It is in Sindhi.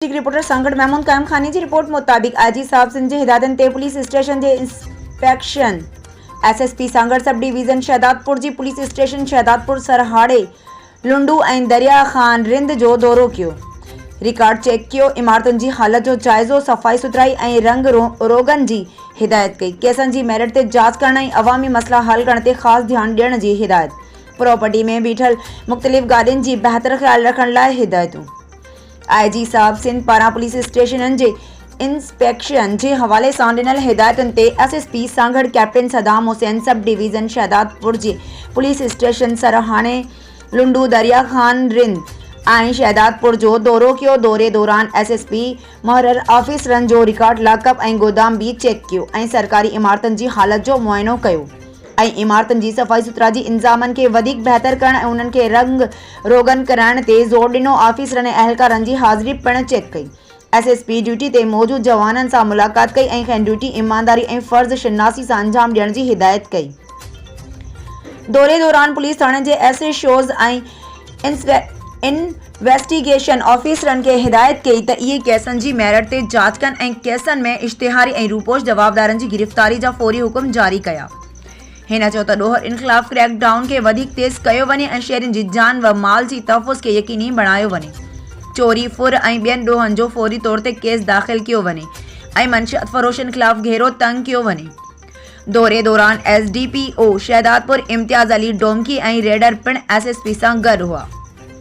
ڊسٽرڪٽ رپورٽر سانگهڙ محمود قائم خاني جي رپورٽ مطابق آء جي صاحب سنڌ جي هدايتن تي پوليس اسٽيشن جي inspection S S P Sanghar sub division Shahdadpur جي پوليس اسٽيشن شهدادپور سرهاڙي لنڊو ۽ دريا خان رند جو دورو ڪيو رڪارڊ چيڪ ڪيو عمارتن جي حالت جو جائزو صفائي سٿرائي ۽ رنگ روغن جي هدايت ڪئي ڪيسن جي ميرٽ تي جاچ ڪرڻ ۽ عوامي مسئلا حل ڪرڻ تي خاص ڌيان ڏيڻ جي هدايت پراپرٽي ۾ بيٺل مختلف گاڏين جي بهتر خيال رکڻ لاء هدايتون آء جي صاحب سنڌ پاران پوليس اسٽيشنن جي انسپيڪشن جي حوالي سان ڏنل هدايتن تي S S P Sanghar captain Saddam Hussain sub division Shahdadpur جي پوليس اسٽيشن سرهاڻي لنڊو دريا خان رند ۽ شهدادپور جو دورو ڪيو دوري دوران ايس ايس پي مهرر آفيسرن جو رڪارڊ لاڪ اپ ۽ گودام به چيڪ ڪيو ۽ سرڪاري عمارتن جي حالت جو معائنو ڪيو ۽ عمارتن جي صفائي سٿرا جي انظامن کي وڌيڪ بهتر ڪرڻ ۽ انهن کي رنگ روغن ڪرائڻ تي زور ڏنو آفيسرن ۽ اهلڪارن جي حاضري پڻ چيڪ ڪئي ايس ايس پي ڊيوٽي تي موجود جوانن سان ملاقات ڪئي ۽ کين ڊيوٽي ايمانداري ۽ فرض شناسي سان انجام ڏيڻ جي هدايت ڪئي دوري دوران پوليس ٿاڻي جي ايس ايڇ اوز ۽ انسپيڪٽرن ويسٽيگيشن آفيسرن کي هدايت ڪئي ته اهي ڪيسن جي ميرٽ تي جاچ ڪن ۽ ڪيسن ۾ اشتهاري ۽ روپوش جوابدارن جي گرفتاري جا فوري حڪم جاري ڪيا. هن چيو ته ڏوهه ان خلاف ڪريڪ ڊائون کي وڌيڪ تيز ڪيو وڃي ۽ شهرين جي جان و مال جي تحفظ کي يقيني بڻايو وڃي. چوري، ڦر ۽ ٻين ڏوهن جو فوري طور تي ڪيس داخل ڪيو وڃي ۽ منشيات فروشن خلاف گهيرو تنگ ڪيو وڃي. دوري دوران S D P O Shahdadpur Imtiaz Ali Domki ۽ reader پڻ ايس ايس پي سان گڏ هئا.